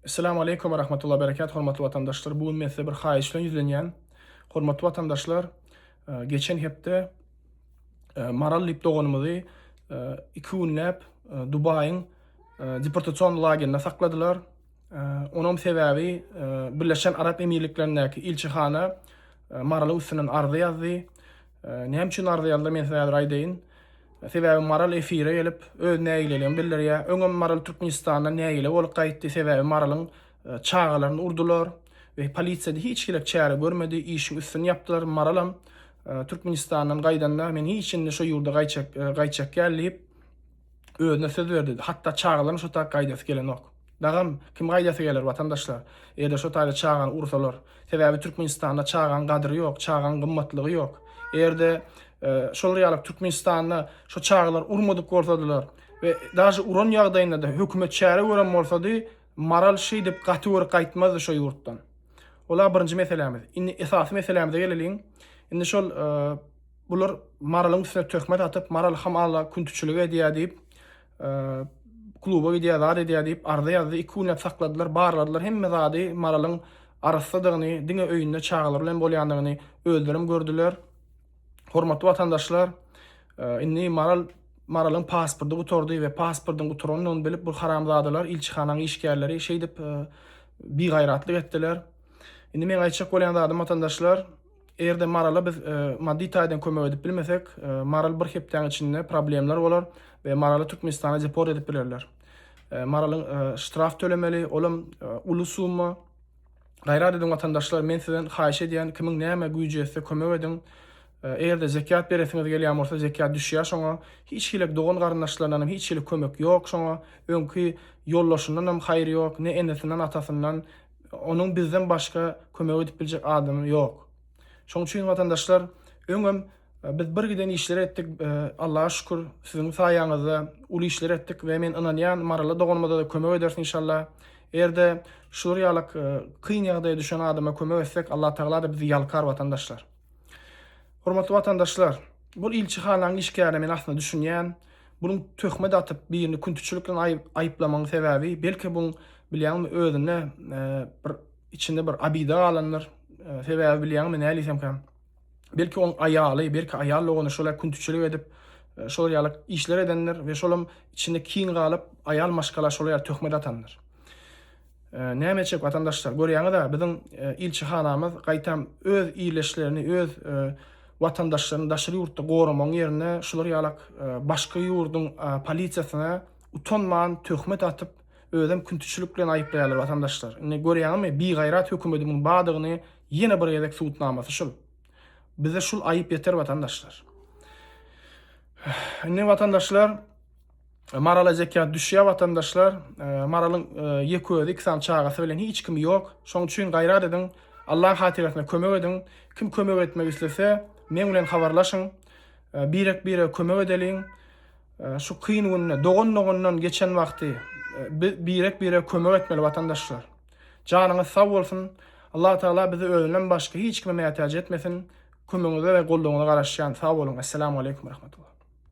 Essalamu Aleýkum we Rahmetullahi we Berekatuh hormatly watandaşlar. Bu gün men size bir haýyş bilen ýüzlenýän. Hormatly watandaşlar, e, geçen hepde e, Maral diýip doganymyzy e, iki günläp Dubaýyň deportasion lagerinde sakladylar. Onuň sebäbi Birleşen Arap Emirliklerindäki ilçihana Maralyň üstünden arza ýazdy. Näme üçin arza ýazdy, men size häzir aýdaýyn. Sebäbi Maral efire gelip, öz nägileligini bildirýär. Öňem Maral Türkmenistandan nägile bolup gaýtdy, sebäbi Maralyň çagalaryny urdular we polisiýa-da hiç hili çäre görmedi, işiň üstüni ýapdylar. Maralam Türkmenistandan gaýdanda, men hiç indi şu ýurda gaýtjak, gaýtjak däl diýip, özüne söz berdi, hatda çagalaryň şo taýda gaýdasy gelenok. Dagam, kim gaýdasy geler, watandaşlar? Eýe-de şo taýda çagany ursalar. Sebäbi Türkmenistanda çagaň gadyry ýok, çagaň gymmatlygy ýok. Eger-de şolar ýaly Türkmenistanda şo çagalar urmadyk bolsadylar we daži uran ýagdaýynda-da hökümet çäre gören bolsady, maral şeýdip gaty gür gaýtmazdy şo ýurtdan. Ola birinji meselämiz. Indi esasy meselämize geleliň. Indi şol Bular Maralyň üstüne töhmet atyp, Maral hamala küntüçilik edýär diýip, kluba gidýär, zat edýär diýip, arza ýazdy. Iki günläp sakladylar, barladylar. Hemme zady Maralyň arassadygyny, diňe öýünde çagalary bilen bolýandygyny özlerem gördüler. Hormatly watandaşlar, indi Maral Maralyň pasporty gutardy we pasportyň gutarandygyny bilip, bu haramzadalar, ilçihanaň işgärleri şeýdip bigaýratlyk etdiler. Indi meň aýtjak bolýan zadym, watandaşlar, Eger-de Marala biz maddy taýdan kömek edip bilmesek, Maral bir hepdäň içinde problemler bolar we Maraly Türkmenistana deport edip bilerler. Maralyň ştraf tölemeli, ol hem uly summa. Gaýrat ediň watandaşlar, men sizden haýyş edýän, kimiň näme güýji ýetse kömek ediň. Eger-de zekýat beresiňiz gelýän bolsa, zekýat düşýär şoňa. Hiç hili dogan-garyndaşlaryndan hem hiç hili kömek ýok şoňa. Öňki ýoldaşyndan hem haýyr ýok, ne enesinden, atasyndan, onuň bizden başga kömek edip biljek adamy ýok. Şoň üçin watandaşlar öňem biz bir giden işleri etdik. Allaha şükür siziň saýaňyzda uly işler etdik we men ynanýan Maryly doganymada-da kömek ederis inşallah. Eger-de şular ýalak kyn ýagdaýa düşen adama kömek etsek Allatagala-da bizi ýalkar watandaşlar. Hormatly watandaşlar, bul ilçihanaň işgärine men aslynda düşünýän. Bunuň töhmet atyp, birini küntiçilik bilen aýyp, aýyplamagyň sebäbi, belki buň bilýäňmi özünde e, bir içinde bir abida galandyr. E, sebäbi bilýäňmi nälisemkä? Belki oň aýaly, belki aýal dogany şola küntiçilik edip, e, şol ýaly işler edendir we şolam içinde kin galyp, aýal maşgala şol ýaly töhmet atandyr. Näme etjek watandaşlar, görýäňiz-ä, biziň ilçihanamyz gaýtam öz ildeşlerini, öz watandaşlaryny daşary ýurtda goramagyň ýerine şular ýalak başga ýurduň polisiýasyna utanman töhmet atyp, özem küntiçilik bilen aýyplaýarlar watandaşlar. Indi görýäňizmi, bigaýrat hökümedi muň badygyny ýene bir gezek subutnamasy şul. Bize şul aýyp ýeter watandaşlar. Indi watandaşlar. Marala zekýat düşýär watandaşlar. Maralyň ýek özi, iki sany çagasy bilen hiç kimi ýok. Şoň üçin gaýrat ediň, Allaň hatyrasyna kömek ediň. Kim kömek etmek islese, meň bilen habarlaşyň. Birek-birege kömek edeliň. Şu kyn günde dogan-dogandan geçen wagty birek-birege kömek etmeli watandaşlar. Janyňyz sag bolsun. Allah Taala bizi özünden başga hiç kime mätäç etmesin. Kömegiňize we goldawyňyza garaşýan. Sag boluň. Essalamu aleýkum we rahmetullah.